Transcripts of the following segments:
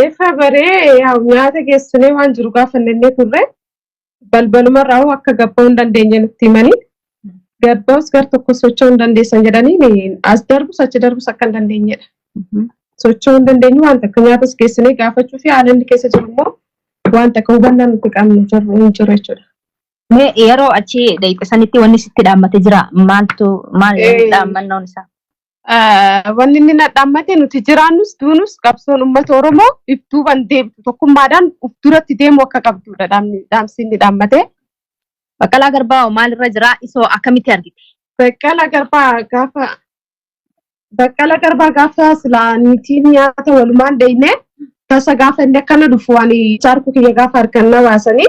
Eefa baree yaa nyaata geessinee waan jiru gaafannee turre balbaluma irraa hoo akka gabba'uu hin dandeenye nutti himanii gabba'us gar tokko socho'uu hin dandeessan jedhanii ni- as darbus achi darbus akka hin dandeenyedha. Socho'uu hin dandeenyu waan takka nyaatas geessinee gaafachuu fi haala inni keessa jiru immoo waan takka hubannaa nuti qabnu jirru hin jiru jechuudha. Mee yeroo achi dhayxe sanitti wanni sitti dhaammate jira maaltu maal Eh. dhaammannoon isaa? Ah, Wanni inni na dhaammate nuti jiraannus duunus qabsoon uummata Oromoo if duuban deemtu tokkummaadhaan uf duratti deemuu akka qabdudha dhaamni dhaamsi inni dhaammate. Baqqalaa Garbaa hoo maalirra jira? Isoo akkamitti argite? Baqqala Garbaa gaafa Baqqala Garbaa gaafa silaa niitiin nyaata walumaan dheyne tasa gaafa inni akkana dhufu ani jaarku kiyya gaafa harkan na baasanii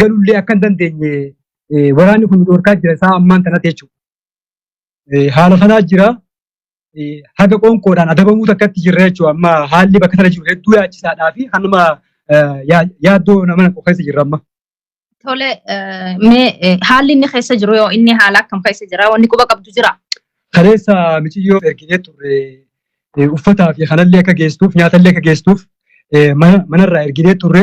galullee akka hin dandeenye waraanni kun dhorkaa jira isaa ammaan tanatti jechuudha. Haala sanaa jira. Haga qoonqoodhaan adabamuu takkatti jirra jechuudha. Amma haalli bakka sana jiru hedduu yaachisaadhaa fi hanuma yaaddoo nama tokko keessa jirra amma. Tole mee haalli inni keessa jiru yoo inni haala akkam keessa jira wanni quba qabdu jira. Kaleessa miciyyoo erginee turre uffataa fi kanallee akka geessuuf nyaatallee akka geessuuf manarraa erginee turre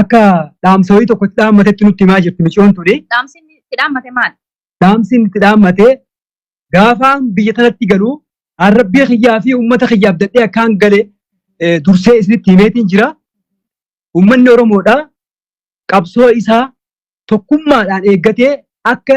akka dhaamsa wayii tokkotti dhaammatetti nutti himaa jirti miciyoon tuni. Dhaamsi inni itti dhaammate maali? Dhaamsi inni itti dhaammate gaafaan biyya tanatti galu arrabbii kiyyaa fi uummata kiyyaaf dadhee akkaan gale dursee isinitti himeetiin jira. Uummanni Oromoodha qabsoo isaa tokkummaadhaan eeggatee akka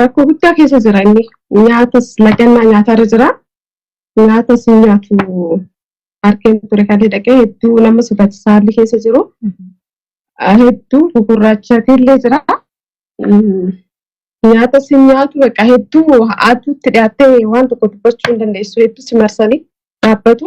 Rakkoo guddaa keessa jira inni. Nyaatas lagannaa nyaatarra jira. Nyaatas hin nyaatu harkeen ture kan dhaqee hedduu nama sodaachisaa haalli keessa jiru. Hedduu gugurraachatillee jira. Nyaatas hin nyaatu bakka hedduu aduutti dhiyaattee waan tokko dubbachuu hin dandeessu hedduu si marsanii dhaabbatu.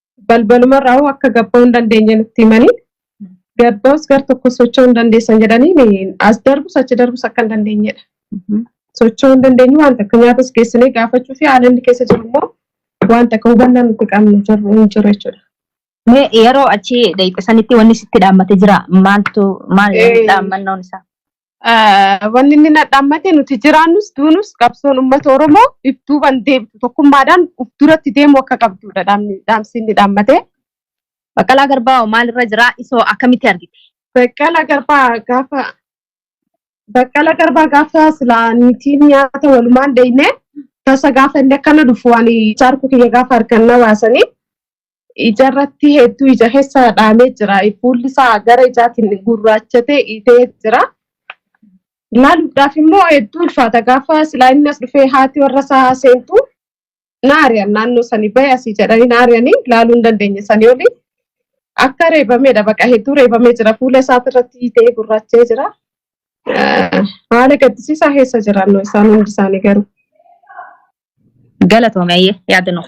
balbalumarraa hoo akka gabba'uu hin dandeenye nutti himanii gabba'us gar tokko socho'uu hin dandeessan jedhanii as darbus achi darbus akka hin dandeenyedha. Socho'uu hin dandeenyu waan takka nyaatas geessinee gaafachuu fi haala inni keessa jiru immoo waan takka hubannaa nuti qabnu jirru hin jiru jechuudha. Mee yeroo achi deemte sanitti wanni sitti dhaammate jira maaltu maal Eh. dhaammannoon isaa? Ah, Wanni inni na dhaammate nuti jiraannus duunus qabsoon uummata Oromoo if duuban deebitu tokkummaadhaan uf duratti deemuu akka qabdudha dhaamni dhaamsi inni dhaammate. Baqqalaa Garbaa hoo maalirra jira? Isoo akkamitti argite? Baqqala garbaa gaafa baqqala garbaa gaafa silaa niitiin nyaata walumaan dheyne tasa gaafa inni akkana dhufu ani jaarku kiyya gaafa harkan na baasanii ija irratti hedduu ija keessa dhaamee jira. Fuulli isaa gara ijaatiin gurraachatee dhiitee jira. Ilaaluudhaaf immoo hedduu ulfaata. Gaafa silaa inni as dhufee haati warra isaa seentu na ari'an naannoo sanii bahe asii jedhanii na ari'anii ilaaluu hin dandeenye sanii olii. Akka reebameedha baqa hedduu reebamee jira. Fuula isaa irratti dhiitee gurraachee jira. Haala gaddisiisaa keessa jiraannu isaan hundi isaanii garuu. Galatoomi ayyee yaada nuuf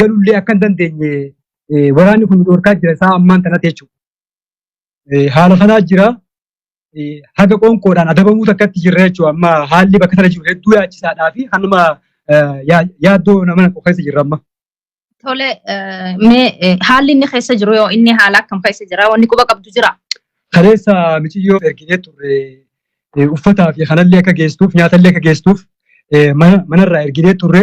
galullee akka hin dandeenye waraanni kun dhorkaa jira isaa ammaan tanatti jechuudha. Haala kanaa jira haga qoonqoodhaan adabamuu takkatti jirra jechuudha amma haalli bakka sana jiru hedduu yaachisaadhaa fi hanuma yaaddoo nama naqu keessa jirra amma. Tole mee haalli inni keessa jiru yoo inni haala akkam keessa jira wanni quba qabdu jira. Kaleessa miciyyoo erginee turre uffataa fi kanallee akka geessuuf nyaatallee akka geessuuf manarraa erginee turre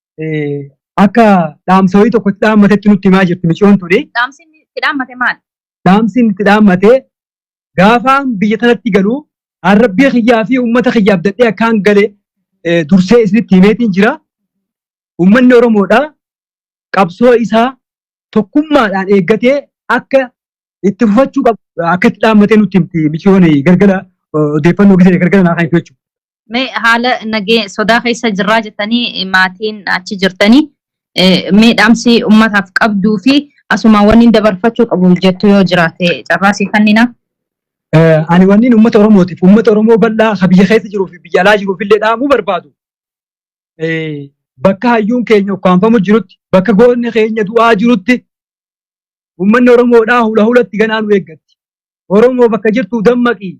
akka dhaamsa wayii tokko itti dhaammatetti nutti himaa jirti miciyoon tuni. Dhaamsi inni itti dhaammate maal? Dhaamsi inni itti dhaammate gaafaan biyya tanatti galu arrabbii kiyyaa fi uummata kiyyaa abdadhee akkaan gale dursee isinitti himeetiin jira. Uummanni Oromoodha qabsoo isaa tokkummaadhaan eeggatee akka itti fufachuu qabu akka itti dhaammatee nutti himti miciyoon galgala odeeffannoo gisee galgala naa kan jechuudha. Mee haala nagee sodaa keessa jirraa jettanii maatiin achi jirtanii mee dhaamsi uummataaf qabduu fi asuma wanni dabarfachuu qabu jettu yoo jiraate carraasii kannina. Ani wanniin uummata Oromootiif uummata Oromoo bal'aa ka biyya keessa jiruu fi biyya alaa jiruuf illee dhaamuu barbaadu. Bakka hayyuun keenya ukkaanfamu jirutti bakka goonni keenya du'aa jirutti uummanni Oromoodhaa hula hulatti ganaa nu eeggatti. Oromoo bakka jirtu dammaqii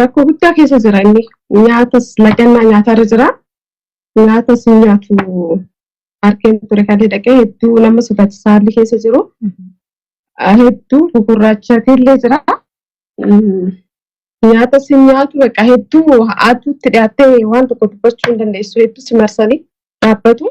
rakkoo guddaa keessa jira inni. Nyaatas lagannaa nyaatarra jira. Nyaatas hin nyaatu harkeen ture kan dhaqee hedduu nama sodaachisaa haalli keessa jiru. Hedduu gugurraachatillee jira. Nyaatas hin nyaatu baqa hedduu haatuutti dhiyaattee waan tokko dubbachuu hin dandeessu hedduu si marsanii dhaabbatu.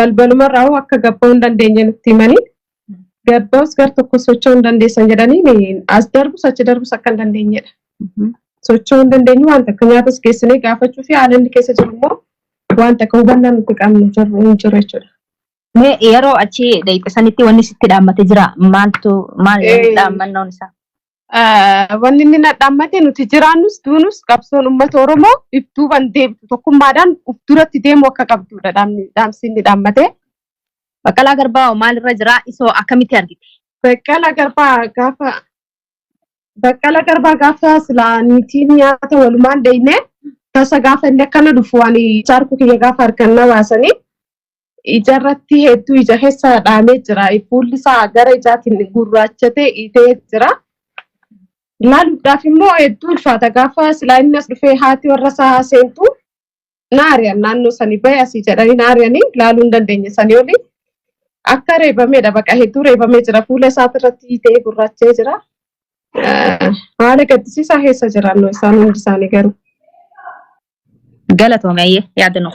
balbaluma irraa hoo akka gabba'uu hin dandeenye nutti himanii gabba'us gar tokko socho'uu hin dandeessan jedhanii as darbus achi darbus akka hin dandeenyedha. Socho'uu hin dandeenyu waan takka nyaatas geessinee gaafachuu fi haala inni keessa jiru immoo waan takka hubannaa nuti qabnu jirru hin jiru jechuudha. Mee yeroo achi dhaqxe sanitti wanni sitti dhaammate jira maaltu maal Eh. dhaammannoon isaa? Ah, Wanni inni na dhaammate nuti jiraannus duunus qabsoon uummata Oromoo if duuban deebitu tokkummaadhaan uf duratti deemu akka qabdudha dhaamni dhaamsi inni dhaammate. Baqqalaa Garbaa hoo maalirra jira? Isoo akkamitti argite? Baqqala garbaa gaafa baqqala garbaa gaafa silaa niitiin nyaata walumaan dheyne tasa gaafa inni akkana dhufu ani jaarku kiyya gaafa argan na baasanii ijarratti hedduu ija keessa dhaamee jira. Fuulli isaa gara ijaatiin gurraachatee itee jira. Laaluudhaaf immoo hedduu ulfaata. Gaafa silaa inni as dhufee haati warra isaa seentu naari'an naannoo sanii bahe asii jedhanii naari'anii laaluu hin dandeenye sanii olii. Akka reebameedha baqa hedduu reebamee jira. Fuula isaati irratti itee gurraachee jira. Eh, Haala gaddisiisaa keessa jiran isaan hundi isaanii garuu. Galatoomi ayyee yaada nuuf.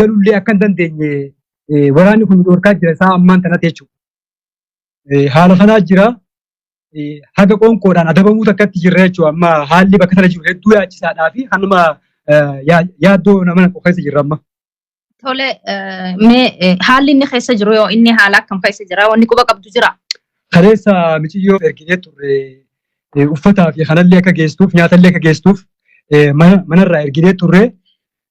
galullee akka hin dandeenye waraanni kun dhorkaa jira isaa ammaan tanatti jechuudha. Haala sanaa jira. Haga qoonqoodhaan adabamuu takkatti jirra jechuudha. Amma haalli bakka sana jiru hedduu yaachisaadhaa fi hanuma yaaddoo nama naqu keessa jirra amma. Tole mee haalli inni keessa jiru yoo inni haala akkam keessa jira wanni quba qabdu jira. Kaleessa miciyyoo erginee turre uffataa fi kanallee akka geessuuf nyaatallee akka geessuuf manarraa erginee turre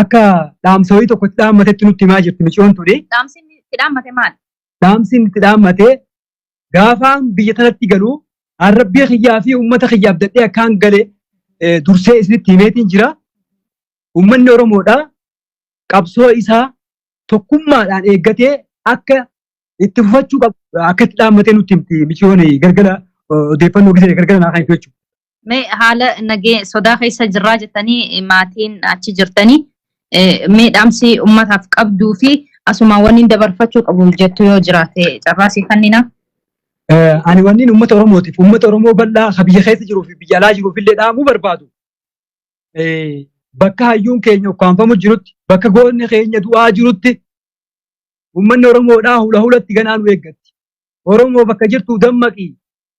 akka dhaamsa wayii tokko itti dhaammatetti nutti himaa jirti miciyoon tuni. Dhaamsi inni itti dhaammate maali? Dhaamsi inni itti dhaammate gaafaan biyya tanatti galu arrabbii kiyyaa fi uummata kiyyaaf dadhee akkaan gale dursee isinitti himeetiin jira. Uummanni Oromoodha qabsoo isaa tokkummaadhaan eeggatee akka itti fufachuu qabu akka itti dhaammatee nutti himti miciyoon gargara odeeffannoo gisee gargara naa kan jechuudha. Mee haala nagee sodaa keessa jirraa jettanii maatiin achi jirtanii mee dhaamsi uummataaf qabduu fi asuma waliin dabarfachuu qabu jettu yoo jiraate carraasii kannina. Ani wanniin uummata Oromootiif uummata Oromoo bal'aa ka biyya keessa jiruu fi biyya alaa jiruuf illee dhaamuu barbaadu. Bakka hayyuun keenya ukkaanfamu jirutti bakka goonni keenya du'aa jirutti uummanni Oromoodhaa hula hulatti ganaa nu eeggatti. Oromoo bakka jirtu dammaqii